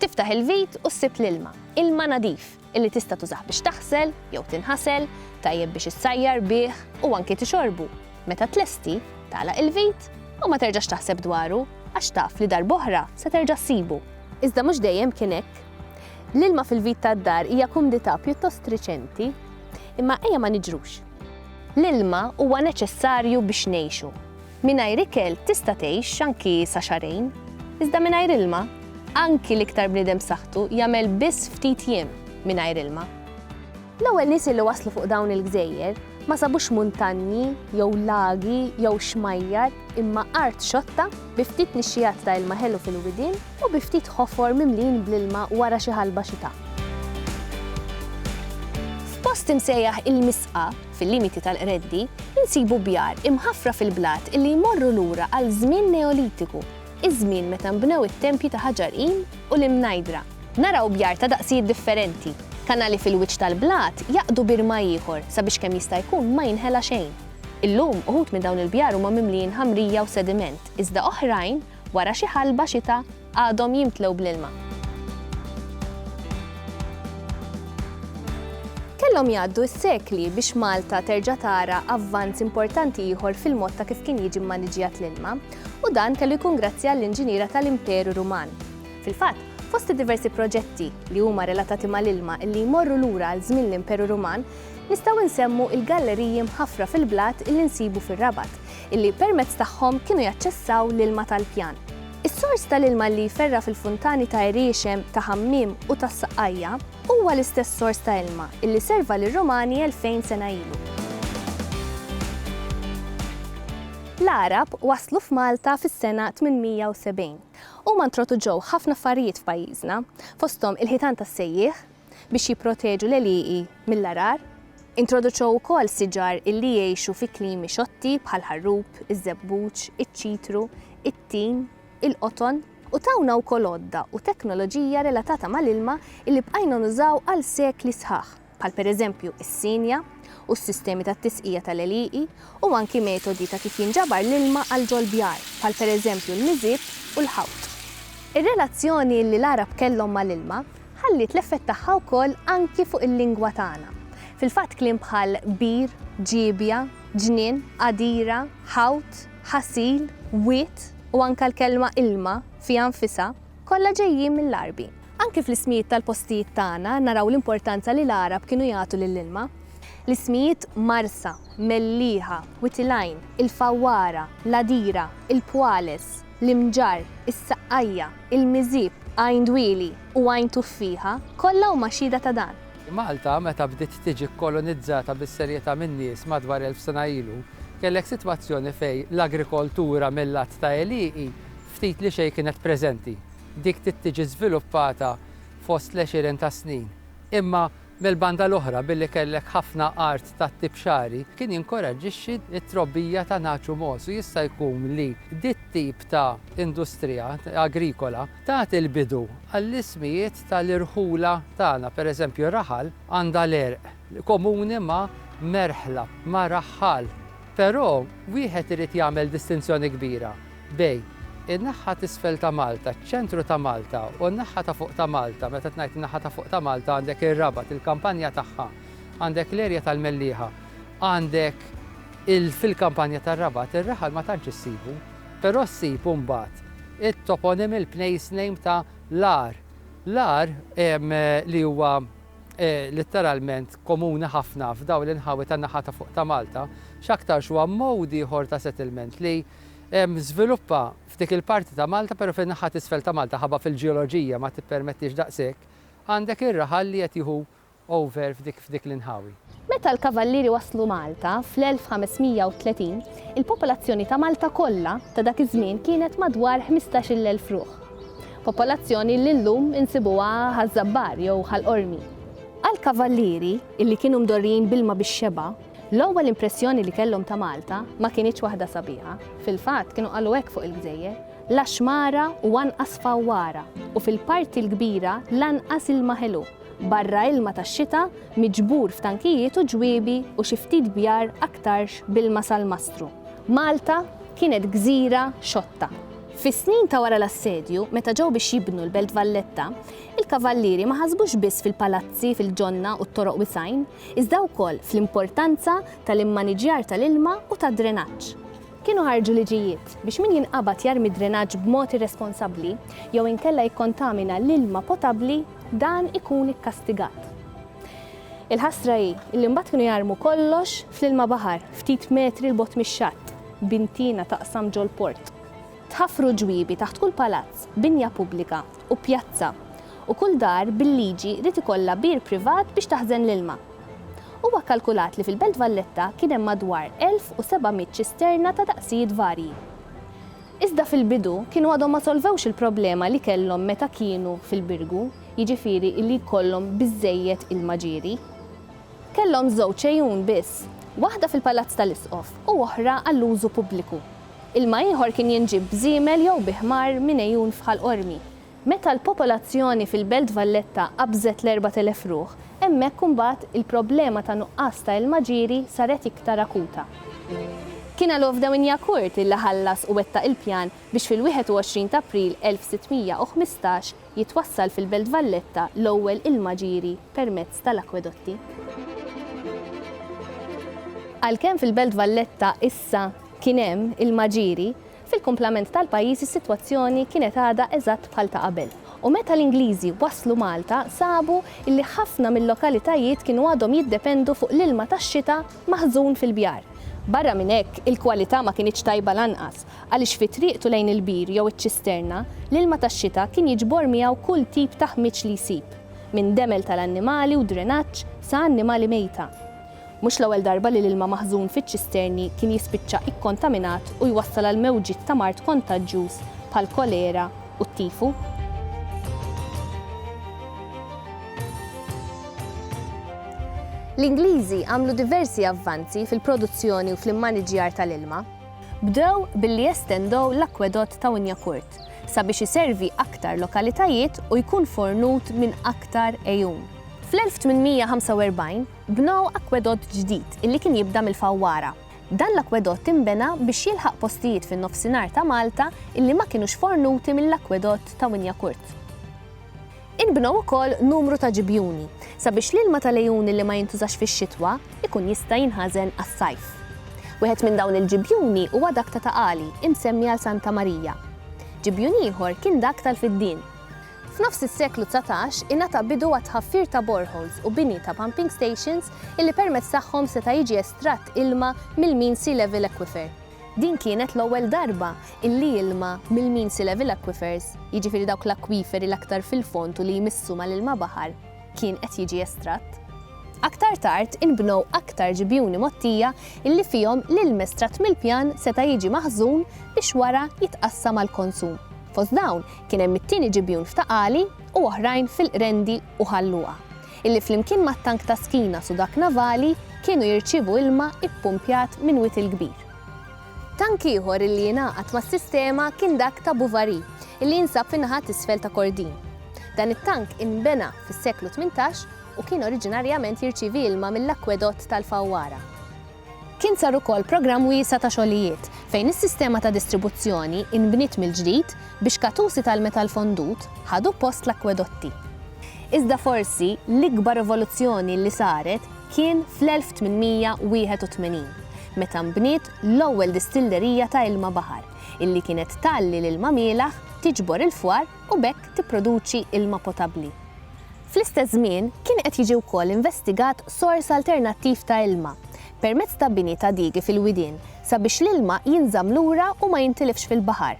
Tiftaħ il-vit u ssib l-ilma, ilma nadif, illi tista' tużah biex taħsel jew tinħasel, tajjeb biex issajjar bih u anki tixorbu. Meta tlesti, tagħlaq il-vit u ma terġax taħseb dwaru għax taf li darb'oħra se terġa' ssibu. Iżda mhux dejjem kien hekk. L-ilma fil-vit tad-dar hija kumdità pjuttost riċenti, imma ejja ma niġrux. L-ilma huwa neċessarju biex ngħixu. Mingħajr ikel tista' tgħix anki sa xahrejn, iżda mingħajr ilma, anki l-iktar bniedem b'saħħtu jagħmel biss ftit jiem mingħajr ilma. L-ewwel nies li waslu fuq dawn il-gżejjer ma sabux muntanji jew lagi jew xmajjar imma art xotta bi ftit nixxiegħat ta' ilma ħelu fil-widien u bi ftit ħofor mimlijin bl-ilma wara xi ħalba xita. F'post imsejjaħ il-Misqa, fil-limiti tal-Qreddi, insibu bjar imħaffra fil-blat illi jmorru lura għal żmien Neolitiku, iż-żmien meta nbnew it-tempji ta' ħaġar qim u l-imnajdra. Naraw bjar ta' daqsijiet differenti. Kanali fil-wiċċ tal-blat jgħaqqdu bir ma' ieħor sabiex kemm jista' jkun ma jinħela xejn. Illum, uħud minn dawn il-bjar huma mimlijin ħamrija u sediment, iżda oħrajn, wara xi ħalba xita, Għadhom jimtlew bl-ilma. Kellhom jgħaddu s-sekli biex Malta terġa' tara avvanz importanti ieħor fil-mod ta' kif kien jiġi mmaniġjat l-ilma, u dan kellu jkun grazzi għall-inġiniera tal-Imperu Ruman. Fil-fatt, fost id-diversi proġetti li huma relatati mal-ilma illi jmorru lura għal żmien l-Imperu Ruman, nistgħu nsemmu l-galleriji mħaffra fil-blat illi nsibu fir-Rabat, illi permezz tagħhom kienu jaċċessaw l-ilma tal-pjan. Is-sors tal-ilma li jferra' fil-funtani ta' Għeriexem, ta' Ħammiem u tas-Saqqajja huwa l-istess sors ta' ilma illi serva lir-Rumani elfejn sena ilu. L-Għarab waslu f'Malta fis-sena 870. Huma ntroduġew ħafna affarijiet f'pajjiżna, fosthom il-ħitan tas-sejjieħ, biex jipproteġu l-għelieqi mill-għarar. Introduċew ukoll siġar illi jgħixu fi klimi xotti bħall-ħarrub, iż-żebbuġ, iċ-ċitru, it-tin, il-qoton u tawna wkoll għodda u teknoloġija relatata mal-ilma illi bqajna nużaw għal sekli sħaħ, bħal pereżempju is-sienja u s-sistemi tat-tisqija tal-għelieqi u anki metodi ta' kif jinġabar l-ilma għal ġol-bjar, bħal pereżempju l-miżieb u l-ħawt. Ir-relazzjoni illi l-Għarab kellhom mal-ilma ħalliet l-effett tagħha wkoll anki fuq il-lingwa tagħna. Fil-fatt kliem bħal bir, ġiebja, ġnien, għadira, ħawt, ħasil, wied u anke l-kelma ilma fiha nfisha, kollha ġejjin mill-Għarbi. Anki fl-ismijiet tal-postijiet tagħna naraw l-importanza li l-Għarab kienu jagħtu lill-ilma. L-ismijiet Marsa, Mellieħa, Wied il-Għajn, il-Fawwara, l-Għadira, il-Pwales, l-Imġarr, is-Saqqajja, Il-Miżieb, Għajn Dwieli u Għajn Tuffieħa kollha huma xhieda ta' dan. Malta, meta bdiet tiġi kkolonizzata bis-serjetà min-nies madwar elf sena ilu, kellek sitwazzjoni fejn l-agrikoltura mil-lat ta' għelieqi ftit li xejn kienet preżenti. Dik bdiet tiġi żviluppata fost l-għexieren ta' snin. Imma. Mill-banda l-oħra, billi kellek ħafna art tat-tip xagħri, kien jinkoraġġixxi t-trobbija ta' nagħaġ u mogħoż u jista' jkun li dit-tip ta' industrija agrikola tat il-bidu għall-ismijiet tal-irħula tagħna. Pereżempju, raħal għandha l-għerq komuni ma' merħla, ma' raħħal. Però wieħed irid jagħmel distinzjoni kbira. Bejn in-naħa t'isfel ta' Malta, ċ-ċentru ta' Malta u n-naħa ta' fuq ta' Malta, meta tnajt in-naħa ta' fuq ta' Malta għandek ir-Rabat, il-kampanja tagħha, għandek l-erja tal-Mellieħa, għandek il fil-kampanja tar-Rabat ir-raħal ma tantx issibu, però ssib imbagħad it-toponym il-place name ta' l-għar. L-għar li huwa litteralment komuni ħafna f'dawn l-inħawi tan-naħa ta' fuq ta' Malta, x'aktarx huwa mode ieħor ta' settlement li, żviluppa f'dik il-parti ta' Malta, però fin-naħa t'isfel ta' Malta ħabba fil-ġeoloġija ma tippermettix daqshekk, għandek ir-raħal li qed jieħu over f'dik l-inħawi. Meta l-Kavallieri waslu Malta fl-1530, il-popolazzjoni ta' Malta kollha ta' dak iż-żmien kienet madwar ħmistax-il elf ruħ. Popolazzjoni li llum insibuha Ħaż-Żabbar jew Ħal Qormi. Għall-Kavallieri, illi kienu mdorrijin b'ilma bix-xebgħa, L-ewwel impressjoni li kellhom ta' Malta ma kinitx waħda sabiħa, fil-fatt kienu qalu hekk fuq il-gżejjer, la xmara u anqas fawwara u fil-parti l-kbira lanqas ilma ħelu, barra ilma tax-xita miġbur f'tankijiet u ġwiebi u xi ftit bjar aktarx b'ilma sal-mastru. Malta kienet gżira xotta. Fis-snin ta' wara l-assedju, meta ġew biex jibnu l-Belt Valletta, il-Kavallieri ma ħasbux biss fil-palazzi, fil-ġonna u t-toroq wisgħin, iżda wkoll fl-importanza tal-immaniġġjar tal-ilma u tad-drenaġġ. Kienu ħarġu liġijiet biex min jinqabad jarmi d-drenaġġ b'mod irresponsabbli jew inkella jikkontamina l-ilma potabbli dan ikun ikkastigat. Il-ħasra hi li mbagħad kienu jarmu kollox fl-ilma baħar ftit metri 'l bogħod mix-xatt, b'intina taqsam ġol-port. Tħaffru ġwiebi taħt kull palazz, binja pubblika, u pjazza, u kull dar bil-liġi ried ikollha bir privat biex taħżen l-ilma. Huwa kkalkulat li fil-Belt Valletta kien hemm madwar 1,700 ċisterna ta' daqsijiet varji. Iżda fil-bidu kienu għadhom ma solvewx il-problema li kellhom meta kienu fil-Birgu, jiġifieri li jkollhom biżżejjed ilma ġieri. Kellhom żewġ għejun biss, waħda fil-Palazz tal-Isqof u oħra għall-użu pubbliku. Ilma ieħor kien jinġieb b'żiemel jew bi ħmar minn għejun f'Ħal Qormi. Meta l-popolazzjoni fil-Belt Valletta qabżet l-erbat elef ruħ, hemmhekk imbagħad il-problema ta' nuqqas ta' ilma ġieri saret iktar akuta. Kien għal Ovdaw Inyakurth illi ħallas u wettaq il-pjan biex fil-21 t'April 1615 jitwassal fil-Belt Valletta l-ewwel ilma ġieri permezz tal-akwedotti. Għalkemm fil-Belt Valletta issa kien hemm il-Maġiri, fil-kumplament tal-pajjiż is-sitwazzjoni kienet għadha eżatt bħal ta' qabel u meta l-Ingliżi waslu Malta sabu li ħafna mil-lokalitajiet kienu għadhom jiddependu fuq l-ilma tax-xita maħżun fil-bjar. Barra minn hekk, il-kwalità ma kinitx tajba lanqas għaliex fi triqtu lejn il-bir jew iċ-ċisterna, l-ilma tax-xita kien jiġbor miegħu kull tip ta' ħmieġ li jsib, minn demel tal-annimali u drenaġġ sa annimali mejta. Mhux l-ewwel darba li l-ilma maħżun fiċ-ċisterni kien jispiċċa ikkontaminat u jwassal għal mewġiet ta' mard kontaġġjuż bħall-kolera u t-tifu. L-Ingliżi għamlu diversi avvanzi fil-produzzjoni u fl-immaniġġjar tal-ilma. Bdew billi jestendow l-akkwedott ta' Wynyacourt sabiex iservi aktar lokalitajiet u jkun fornut minn aktar għejun. Fl-1845, Bnew akwedott ġdid li kien jibda mill-Fawwara. Dan l-akwedott inbena biex jilħaq postijiet fin-Nofsinhar ta' Malta li ma kinux fornuti mill-akwedott ta' Wynyacourt. Inbnew ukoll numru ta' ġibjuni sabiex l-ilma tal-għejun li ma jintużax fix-xitwa jkun jista' jinħażen għas-sajf. Wieħed minn dawn il-ġibjuni huwa dak ta' Ta' Qali, imsemmi għal Santa Marija. Ġibjun ieħor kien dak tal-Fiddien. F'nofs is-seklu dsatax ingħata bidu għat-tħaffir ta' boreholes u bini ta' pumping stations illi permezz tagħhom seta' jiġi estratt ilma mill-mean sea level aquifer. Din kienet l-ewwel darba illi ilma mill-mean sea level aquifers, jiġifieri dawk l-akwiferi l-aktar fil-fond u li jmissu mal-ilma baħar, kien qed jiġi estratt. Aktar tard inbnew aktar ġibjuni mgħottija illi fihom l-ilm estratt mill-pjan seta' jiġi maħżun biex wara jitqassam għall-konsum. Fost dawn Kien hemm it-tieni ġibjun f'Ta' Qali u oħrajn fil-Qrendi u Ħal Luqa, illi flimkien mat-tank ta' Skinas u dak navali kienu jirċievu ilma ppumpjat minn Wied il-Kbir. Tank ieħor illi ingħaqad mas-sistema kien dak ta' Buvari, illi jinsab fin-naħa t'isfel ta' Kordin. Dan it-tank inbena fis-seklu tmintax u kien oriġinarjament jirċievi ilma mill-akwedott tal-Fawwara. Kien sar ukoll programm wiesa' ta' xogħlijiet fejn is-sistema ta' distribuzzjoni inbniet mill-ġdid biex katusi tal-metall fondut ħadu post l-akkwedotti. Iżda forsi l-ikbar rivoluzzjoni li saret kien fl-1881, meta nbniet l-ewwel distillerija ta' ilma baħar, illi kienet tgħalli l-ilma mielaħ, tiġbor il-fwar u b'hekk tipproduċi ilma potabbli. Fl-istess żmien, kien qed jiġi wkoll investigat sors alternattiv ta' ilma, permezz ta' bini ta' digi fil-widien sabiex l-ilma jinżamm lura u ma jintilifx fil-baħar.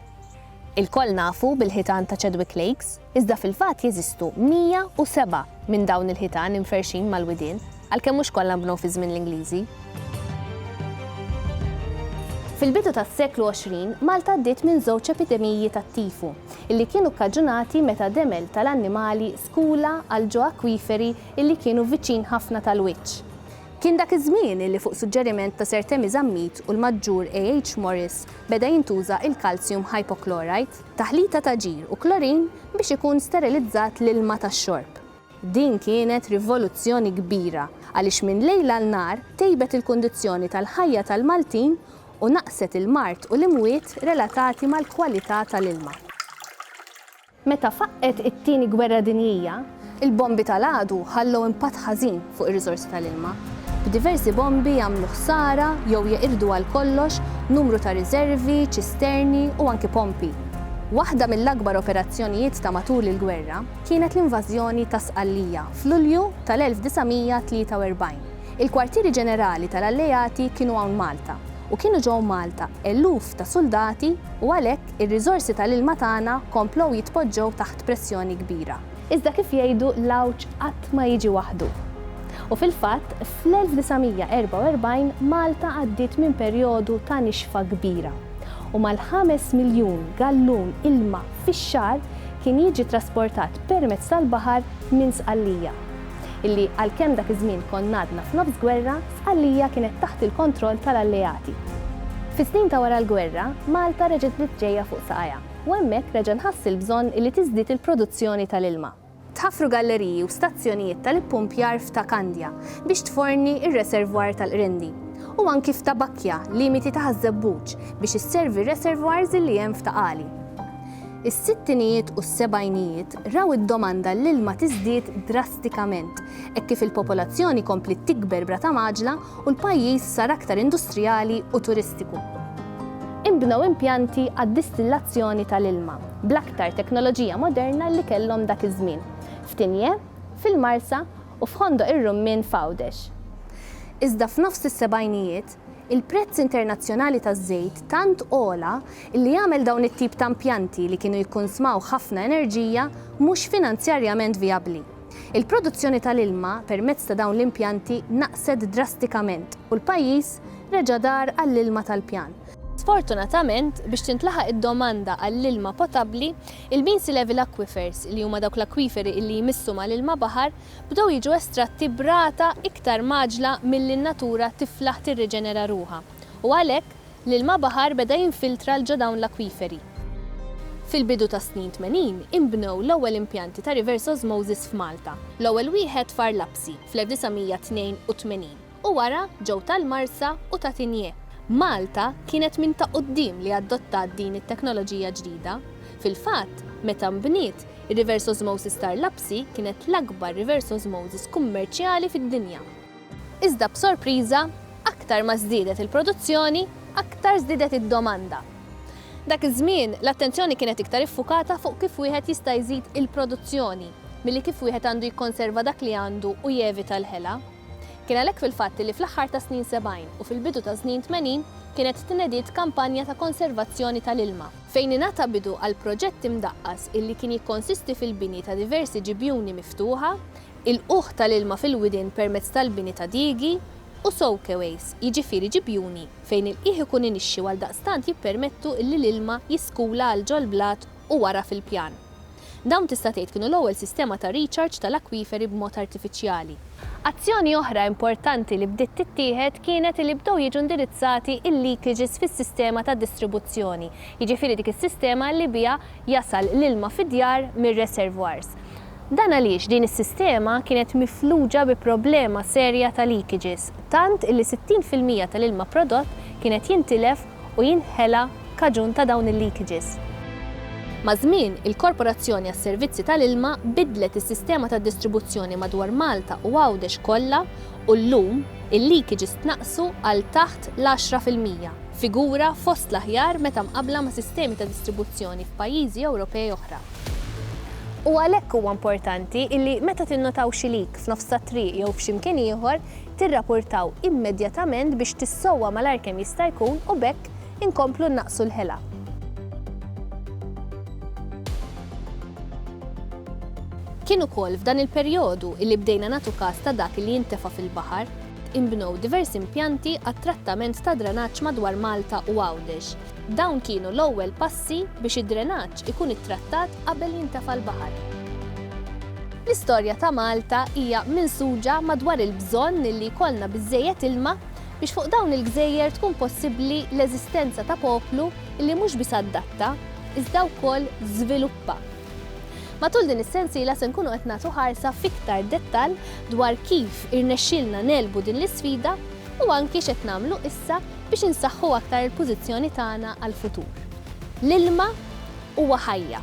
Ilkoll nafu bil-ħitan ta' Chadwick Lakes, iżda fil-fatt jeżistu 107 minn dawn il-ħitan imferrxin mal-widien. għalkemm mhux kollha nbnew fi żmien l-Ingliżi. Fil-bidu tas-seklu 20, Malta għaddiet minn żewġ epidemiji tat-tifu, illi kienu kkaġunati meta demel tal-annimali skula għal ġo akwiferi illi kienu viċin ħafna tal-wiċċ. Kien dak iż-żmien illi fuq suġġeriment ta' Sir Temi Zammit u l-Maġġur A. H. Morris beda jintuża il-calcium hypochlorite, taħlita ta' ġir u klorin biex ikun sterilizzat l-ilma tax-xorb. Din kienet rivoluzzjoni kbira għaliex minn lejl għal nhar tejbet il-kundizzjoni tal-ħajja tal-Maltin u naqqset il-mard u l-imwiet relatati mal-kwalità tal-ilma. Meta faqqgħet it-Tieni Gwerra Dinjija, il-bombi tal-għadu ħallew impatt ħażin fuq ir-riżorsi tal-ilma, b'diversi bombi għamlu ħsara jew jeqirdu għal kollox numru ta' riżervi, ċisterni u anki pompi. Waħda mill-akbar operazzjonijiet ta' matul il-gwerra, kienet l-invażjoni ta' Sqallija f'Lulju tal-1943. Il-kwartieri ġenerali tal-Alleati kienu hawn Malta u kienu ġew Malta eluf ta' suldati u għalhekk ir-riżorsi tal-ilma tagħna komplew jitpoġġew taħt pressjoni kbira. Iżda kif jgħidu l-għawġ qatt ma jiġi waħdu. U fil-fatt, fl-1944 Malta għaddiet minn perjodu ta' nixfa kbira u mal-ħames miljun gallun ilma fix-xahar kien jiġi trasportat permezz tal-baħar minn Sqallija. Illi għalkemm dak iż-żmien konna għadna f'nofs gwerra, Sqallija kienet taħt il-kontroll tal-Alleati. Fis-snin ta' wara l-gwerra, Malta reġgħet bdiet ġejja fuq saqajha u hemmhekk reġa' nħass il-bżonn illi tiżdied il-produzzjoni tal-ilma. tħaffru galleriji u stazzjonijiet tal-ippumpjar f'Ta' Kandja biex tforni r-reservoir tal-Qrindi, u anki f'Ta' Bakkja, limiti ta' Ħaż-Żebbuġ, biex isservi r-reservoirs li hemm f'Ta' Qali. Is-sittinijiet u s-sebgħinijiet raw id-domanda għall-ilma tiżdied drastikament hekk kif il-popolazzjoni kompliet tikber b'rata mgħaġġla u l-pajjiż sar aktar industrijali u turistiku. Inbnew impjanti għad-distillazzjoni tal-ilma bl-aktar teknoloġija moderna li kellhom dak iż-żmien, f'Tignée, fil-Marsa, u f'Ħondoq ir-Rummien f'Għawdex. Iżda f'nofs is-sebgħinijiet, il-prezz internazzjonali taż-żejt tant għola li għamel dawn it-tip ta' impjanti li kienu jikkunsmaw ħafna enerġija mhux finanzjarjament vijabbli. Il-produzzjoni tal-ilma permezz ta' dawn l-impjanti naqset drastikament u l-pajjiż reġa' dar għall-ilma tal-pjan. Sfortunatament, biex tintlaħaq id-domanda għall-ilma potabbli, il-Beansey Level Aquifers, li huma dawk l-akwiferi illi jmissu mal-ilma baħar, bdew jiġu estratti b'rata iktar mgħaġġla milli n-natura tiflaħ tirriġenera ruħha u għalhekk, L-ilma baħar beda jinfiltra 'l ġo dawn l-akwiferi. Fil-bidu tas-snin tmenin inbnew l-ewwel impjanti ta' reverse osmosis f'Malta, l-ewwel wieħed f'Arlapsi fl-1982 u wara ġew tal-Marsa u ta' Tinje. Malta kienet minn ta' quddiem li adottat din it-teknoloġija ġdida. Fil-fatt, meta nbniet, ir-reverse osmosis t'Arlapsi kienet l-akbar reverse osmosis kummerċjali fid-dinja. Iżda b'sorpriża, aktar ma żdiedet il-produzzjoni, aktar żdiedet id-domanda. Dak iż-żmien, l-attenzjoni kienet iktar iffukata fuq kif wieħed jista' jżid il-produzzjoni milli kif wieħed għandu jikkonserva dak li għandu u jevita l-ħela. Kien għalhekk fil-fatt li fl-aħħar tas-snin 70 u fil-bidu tas-snin 80 kienet tnediet kampanja ta' konservazzjoni tal-ilma, fejn ingħata bidu għal proġett imdaqqas illi kien jikkonsisti fil-bini ta' diversi ġibjuni miftuħa, Il-qugħ tal-ilma fil-widien permezz tal-bini ta' diegi u soakeways, jiġifieri ġibjuni fejn il-qiegħ ikun inixxi u għaldaqstant jippermettu illi l-ilma jiskula għal ġol-blat u wara fil-pjan. Dawn tista' tgħid kienu l-ewwel sistema ta' recharge tal-akwiferi b'mod artifiċjali. Azzjoni oħra importanti li bdiet tittieħed kienet illi bdew jiġu indirizzati il-leakages fis-sistema ta' distribuzzjoni, jiġifieri dik is-sistema illi biha jasal l-ilma fid-djar mir-reservoirs. Dan għaliex din is-sistema kienet mifluġa bi problema serja ta' leakages, tant illi 60 fil-mija tal-ilma prodott kien qed jintilef u jinħela kaġun ta' dawn il-leakages. Maż-żmien, il-Korporazzjoni għas-Servizzi tal-Ilma biddlet is-sistema tad-distribuzzjoni madwar Malta u Għawdex kollha u llum il-leakages tnaqqsu għal taħt l-għaxra fil-mija, figura fost l-aħjar meta mqabbla ma' sistemi ta' distribuzzjoni f'pajjiżi Ewropej oħra. U għalhekk huwa importanti illi meta tinnotaw xi leak f'nofs tat-triq jew f'xi mkien ieħor, tirrapurtaw immedjatament biex tissowwa malajr kemm jista' jkun u b'hekk Inkomplu nnaqqsu l-ħela. Kien ukoll f'dan il-perjodu li bdejna nagħtu kas ta' dak li jintefa' fil-baħar. Inbnew diversi impjanti għat-trattament tad-drenaġġ madwar Malta u Għawdex. Dawn kienu l-ewwel passi biex id-drenaġġ ikun ittrattat qabel jintefa' l-baħar. L-istorja ta' Malta hija minsuġa madwar il-bżonn li jkollna biżżejjed ilma, biex fuq dawn il-gżejjer tkun possibbli l-eżistenza ta' poplu li mhux biss adatta, iżda wkoll żviluppa. Matul din is-sensiela se nkunu qed nagħtu ħarsa f'iktar dettall dwar kif irnexxielna negħlbu din l-isfida u anki x'qed nagħmlu issa biex insaħħu aktar il-pożizzjoni tagħna għall-futur. L-ilma huwa ħajja.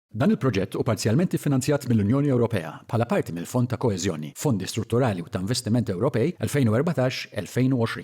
Dan il-proġett hu parzjalment iffinanzjat mill-Unjoni Ewropea bħala parti mill-Fond ta' Koeżjoni, Fondi Strutturali u ta' Investiment Ewropej 2014-2020.